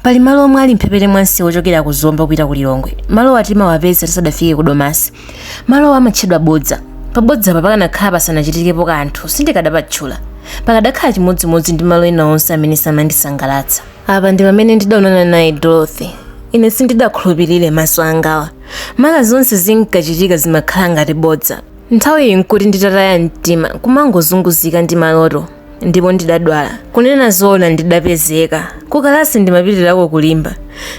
Pali malo omwe ali mphepete mwa msewu ochokera ku Zomba kupita ku Lilongwe. Malowa timawapeza tisadafike ku Domasi. Malowa amatchedwa Bodza. Pa Bodzapa pakanakhala pasanachitikepo kanthu, sindikadapatchula. Pakadakhala chimodzimodzi ndi malo ena onse amene samandisangalatsa. Apa ndi pamene ndidaonana naye Dorothy. Ine sindidakhulupirire maso angawa. Mwa zonse zinkachitika zimakhala ngati bodza. Nthawiyi n'kuti nditataya mtima, kumangozunguzika ndi maloto. ndipo ndidadwala kunena zoona ndidapezeka kukalasi ndimapitirako kulimba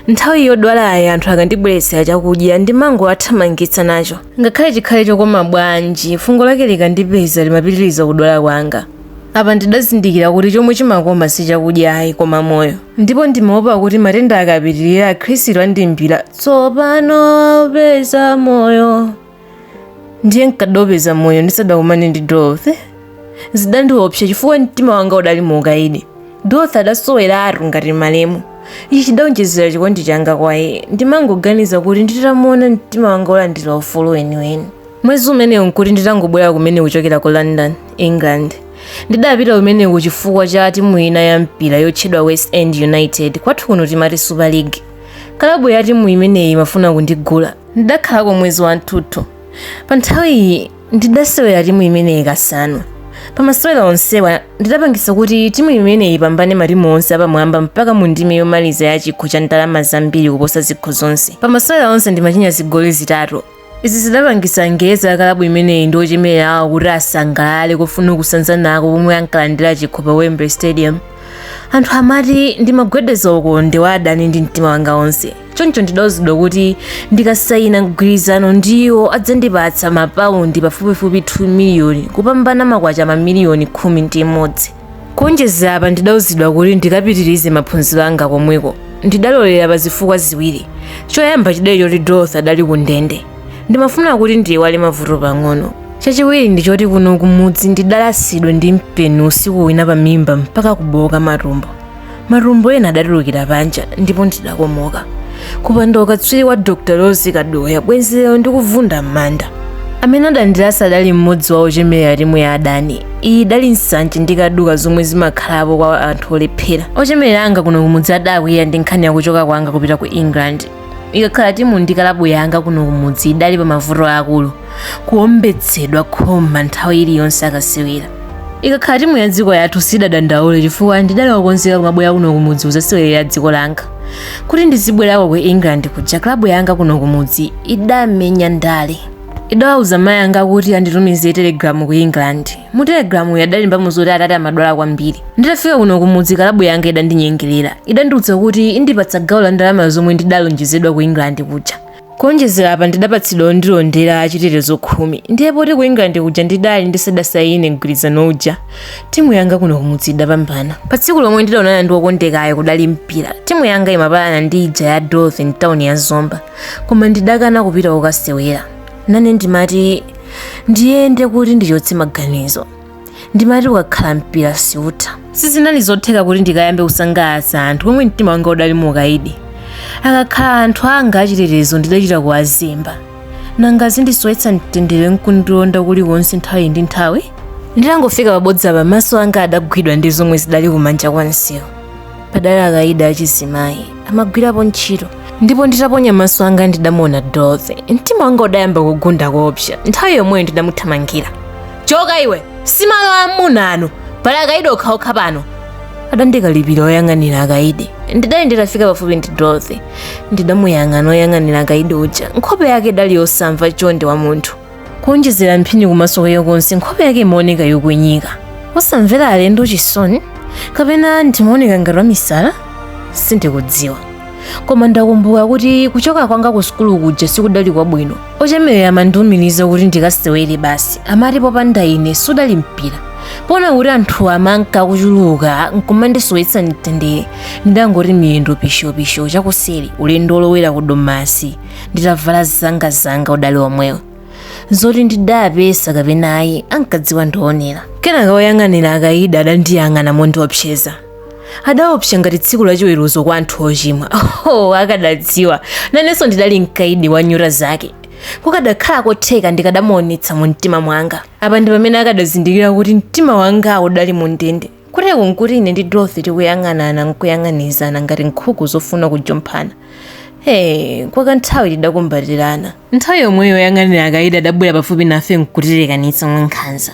nthawi yodwalayi anthu akandibweretsera chakudya ndimangowathamangitsa nacho ngakhale chikhale chokoma bwanji fungo lake likandipeza limapitiriza kudwala kwanga apa ndidazindikira kuti chomwe chimakoma si chakudya ayi koma moyo ndipo ndimaopa kuti matenda akapitirira akhristu andimbira tsopano peza moyo ndiye nkadopeza moyo ndisadakumane ndi dorothy zidandiopsa chifukwa mtima wanga udali mu ukaidi dorothy adasoweratu ngati malemu ichi chidaonjezera chikondi changa kwa iye ndimangoganiza kuti nditamuona mtima wanga ulandira ufulu weniweni mwezi umenewu nkuti nditangobwera kumene kuchokera ku london england ndidapita kumeneku chifukwa cha timu ina ya mpira yotchedwa west ham united kwathu kuno timati super league kalabu ya timu imeneyi imafuna kundigula ndidakhalako mwezi wathunthu pa nthawiyi ndidasewera timu imeneyi kasanu pa masewera onsewa ndidapangisa kuti timu imeneyi ipambane matimu onse apamwamba mpaka mu ndime yomaliza ya chikho cha ndalama zambiri kuposa zikho zonse pa masewera onse ndimachinya zigoli zitatu izi zidapangisa angerezi akalabu imeneyi ndi ochemerera awo kuti asangalale kufuna kusanzanako pomwe ankalandira chikho pa wembley stadium anthu amati ndimagwedeza ukonde wa adani ndi mtima wanga onse choncho ndidauzidwa kuti ndikasayina mgwirizano ndiwo adzandipatsa mapaundi pafupifupi 2 miliyoni kupambana makwacha mamiliyoni khumi ndi imodzi kuonjezera apa ndidauzidwa kuti ndikapitirize maphunziro anga komweko ndidalolera pa zifukwa ziwiri choyamba chidali choti dorothy adali ku ndende ndimafuna kuti ndiyiwale mavuto pang'ono chachiwiri ndi choti kuno kumudzi ndidalasidwa ndi mpeni usiku wina pa mimba mpaka kubowoka matumbo matumbo ena adatulukira panja ndipo ndidakomoka kupanda ukatswiri wa dr rose kaduya bwenzi lero ndikuvunda m'manda amene adandilasa adali mmodzi wa ochemerera timu ya adani iyi idali nsanje ndi kaduka zomwe zimakhalapo kwa anthu olephera ochemerera anga kuno kumudzi adakwiya ndi nkhani yakuchoka kwanga kupita ku england ikakhala timu ndi kalabu yanga kuno kumudzi idali pa mavuto akulu kuombetsedwa khoma nthawi iliyonse akasewera ikakhala timu ya dziko yathu sidadandaule chifukwa ndidali wokonzeka kumabwera kuno kumudzi kuzasewerera dziko langa kuti ndizibwerako ku england kuja kalabu yanga kuno kumudzi idamenya ndale idawauza mayi anga kuti anditumize telegalamu ku england mu telegramu adalembamo zoti atati amadwala kwambiri nditafika kuno kumudzi kalabu yanga idandinyengerera idandiuza kuti indipatsa gawo la ndalama zomwe ndidalonjezedwa ku england kuja kuonjezera apa ndidapatsidwa ondilondera achitetezo khumi ndiye poti ku england kuja ndidali ndisadasayine mgwirizano uja timu yanga kuno kumudzi idapambana pa tsiku lomwe ndidaonana ndi wokondekayo kudali mpira timu yanga imapalana ndi ija ya dolphin town ya zomba koma ndidakana kupita kukasewera nane ndimati ndiyende kuti ndichotse maganizo ndimati ukakhala mpira siutha sizinali zotheka kuti ndikayambe kusangalatsa anthu pomwe mtima wanga udali mu ukaidi akakhala anthu anga achitetezo ndidachita kuwazemba nanga azindisowetsa mtendere nkundilonda kulikonse nthawi ndi nthawi nditangofika pabodza pa maso anga adagwidwa ndi zomwe zidali kumanja kwa msewu padali akaidi achizimayi amagwirapo ntchito ndipo nditaponya maso anga ndidamuona dorothy mtima wanga udayamba kugunda koopsa nthawi yomweyo ndidamuthamangira choka iwe si malo amuna ano pali akaidi okhaokha pano adandikalipira oyang'anira akaidi ndidali nditafika pafupi ndi dorothy ndidamuyang'ana oyang'anira akaidi uja nkhope yake idali yosamva chonde wa munthu kuonjezera mphini kumaso kwayo konse nkhope yake imaoneka yokwenyika osamvera alendo chisoni kapena ndimaoneka ngati wamisala sindikudziwa koma ndakumbuka kuti kuchoka kwanga ku sukulu kuja sikudali kwabwino ochemerera amandiumiriza kuti ndikasewere basi amati popanda ine sudali mpira poona kuti anthu amanka akuchuluka nkumandisowetsa mtendere ndidangoti miyendo pishopisho chakuseri ulendo olowera ku domasi nditavala zangazanga udali omwewo zoti ndidapesa kapena ayi ankadziwa ndi oonera kenaka woyang'anira akaidi adandiyang'ana mondiopseza adaopsa ngati tsiku lachiweruzo kwa anthu ochimwa oh, akadadziwa nanenso ndidali mkaidi wa nyota zake kukadakhala kotheka ndikadamuonetsa mu mtima mwanga apa ndi pamene akadazindikira kuti mtima wanga udali mu ndende Kuteko nkuti ine ndi Dorothy tikuyang'anana nkuyang'anizana ngati nkhuku zofuna kujomphana. Hey, kwa kanthawi tidakumbatirana. Nthawi yomweyo oyang'anira akaidi adabwera pafupi nafe nkutilekanitsa mwankhanza.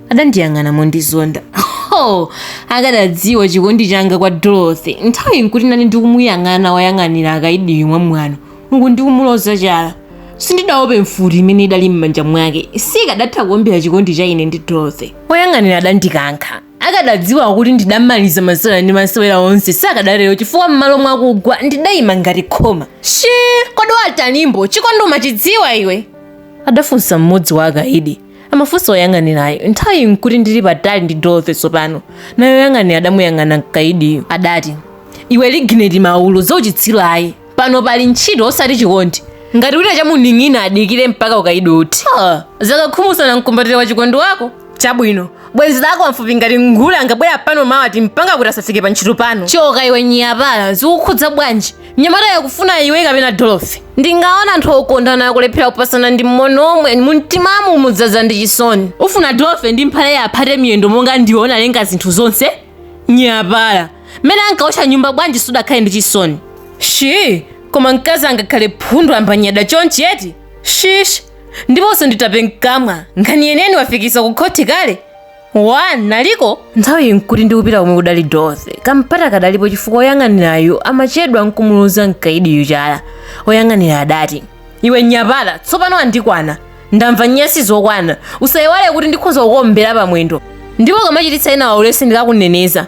Adandiyang'ana mondizonda. Ho! Akadadziwa chikondi changa kwa Dorothy. Nthawi nkuti nane ndikumuyang'ana oyang'anira akaidiyu mwamwano. uku ndikumuloza chala sindidaope mfuti imene idali m'manja mwake sikadatha kuombera chikondi cha ine ndi dorothy oyang'anira adandikankha akadadziwa kuti ndidamaliza masewera ndi masewera onse sakadatero chifukwa m'malo mwakugwa ndidayima ngati khoma shi kodi watanimbo chikondi umachidziwa iwe adafunsa mmodzi wa akaidi amafunsa oyang'anirayo nthawi nkuti ndili patali ndi dorothy tsopano naye oyang'anira adamuyang'ana mkaidiyo adati iwe ligineti maulo zauchitsiru ayi pano pali ntchito osati chikondi ngati wina chamuning'ina adikire mpaka ukaidi uthe Ha, zaka khumi usanamkumbatira wa chikondi wako chabwino bwenzi lako wamfupi ngati nguli angabwera pano mawa atimpanga kuti asafike pa ntchito pano choka iwe nyapala zikukhudza bwanji mnyamata yakufuna iwe kapena dorothy ndingaona anthu okondana akulephera kupasana ndi mmono womwe mumtimamu mudzaza ndi chisoni ufuna dorothy ndi mphale yaphate miyendo monga ndiona lenga zinthu zonse nyapala mmene ankaotcha nyumba bwanji sudakhale ndi chisoni shi koma mkazi angakhale phundu sambanyada chonchi eti shish ndiponso nditape mkamwa nkhani yeneni wafikisa ku khoti kale wanaliko nthawi nkuti ndikupita komwe kudali dorothy kampata kadalipobe chifukwa oyang'anirayu amachedwa nkumuluza mkaidiyu chala oyang'anira adati iwe nyapala tsopano andikwana ndamva nyasi zokwana usayiwale kuti ndikhoza kukombera pamwendo ndipo kamachititsa ena waulesi ndikakuneneza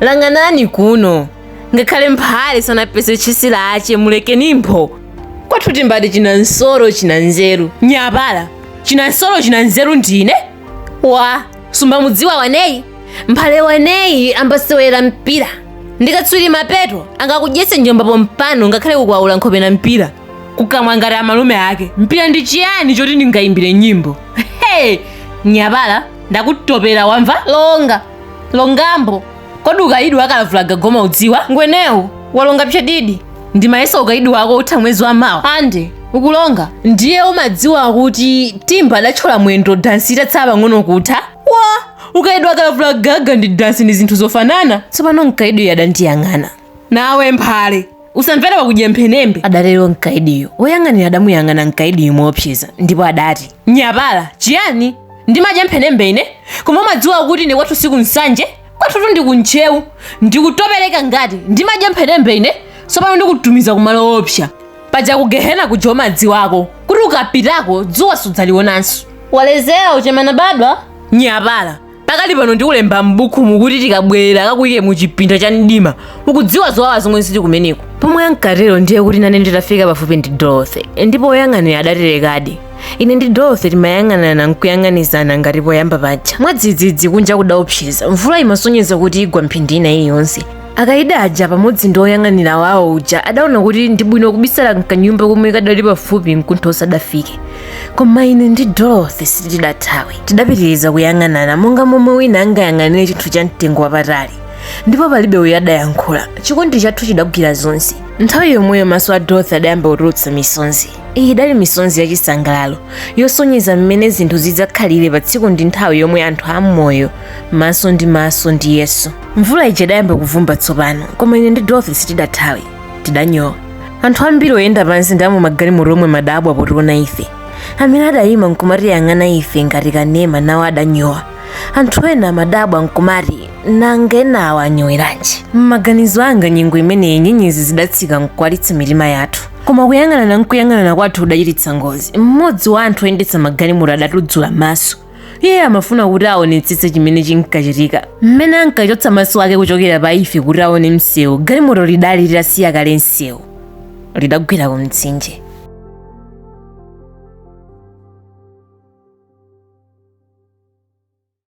lang'anani kuno ngakhale mphale sanapeze tchesi lache mulekeni mphwo kwathu timbati china msolo china nzeru nyapala china msolo china nzeru ndine wa sumba mudziwa waneyi mphale waneyi ambasewera mpira ndikatswiri mapeto angakudyetse njomba pompano ngakhale kukwaula nkhope na mpira kukamwa ngati amalume ake mpira ndi chiyani choti ndingayimbire nyimbo hey nyapala ndakutopera wamva longa longambo kodi ukayidi wa kalavulagaga umaudziwa ngwenewu walonga pchadidi ndimayesa ukayidi wako utha mwezi wa mawa ande ukulonga ndiye umadziwa kuti timba adatchola mwendo dansi itatsa pang'ono kutha wa ukayidi wa kalavulagaga ndi dansi ndi zinthu zofanana tsopano mkayidiyo adandiyang'ana Nawe mphale usamvere wakudya mphenembe, adatero mkaidiyo. Woyang'anira adamuyang'ana mkaidiyo moopseza ndipo adati, Nyapala, chiyani? Ndimadya mphenembe ine? Koma umadziwa kuti ine kwathu si ku Nsanje? Kwathutu ndi ku Ntcheu. Ndikutopereka ngati ndimadya mphenembe ine? Tsopano ndikutumiza kumalo oopsa. Paja ku Gehena kuja umadziwako kuti ukapitako dzuwa sudzalionanso. Walezera uchemana badwa? Nyapala, pakali pano ndikulemba m'bukumu kuti tikabwerera akakuyike mu chipinda cha mdima ukudziwa zowawa zomwe zili kumeneko pomwe ankatero ndiye kuti nane nditafika pafupi ndi dorothy ndipo woyang'anira adaterodi ine ndi dorothy timayang'anana nkuyang'anizana ngati poyamba paja mwadzidzidzi kunja kudaopseza mvula imasonyeza kuti igwa mphindi ina iliyonse akaidi aja pamodzi ndi oyang'anira wawo uja adaona kuti ndi bwino kubisala mkanyumba komwe kadali pafupi mkuntho usadafike koma ine ndi dorothy sitidathawe tidapitiriza kuyang'anana monga momwe wina angayang'anire chinthu cha mtengo wapatali ndipo palibe uyo adayankhula chikondi chathu chidagwira zonse nthawi yomweyo maso a dorothy adayamba kutulutsa misonzi iyi idali misonzi yachisangalalo yosonyeza mmene zinthu zidzakhalire pa tsiku ndi nthawi yomwe anthu amoyo maso ndi maso ndi yesu mvula ija idayamba kuvumba tsopano koma ine ndi dorothy sitidathawe tidanyowa anthu ambiri oyenda pansi ndi amumagalimoto omwe amadabwa potiona ife amene adayima nkumatiyang'ana ife ngati kanema nawo adanyowa anthu ena amadabwa nkumati nanga enawo anyoweranji m'maganizo anga nyengo imeneyi nyenyezi zidatsika nkuwalitsa mitima yathu koma kuyang'anana nkuyang'anana kwathu kudachititsa ngozi mmodzi wa anthu oyendetsa magalimoto adatuzula maso iye amafuna kuti aonetsetse chimene chinkachitika mmene ankachotsa maso ake kuchokera pa ife kuti aone msewu galimoto lidali litasiya kale msewu lidagwera ku mtsinje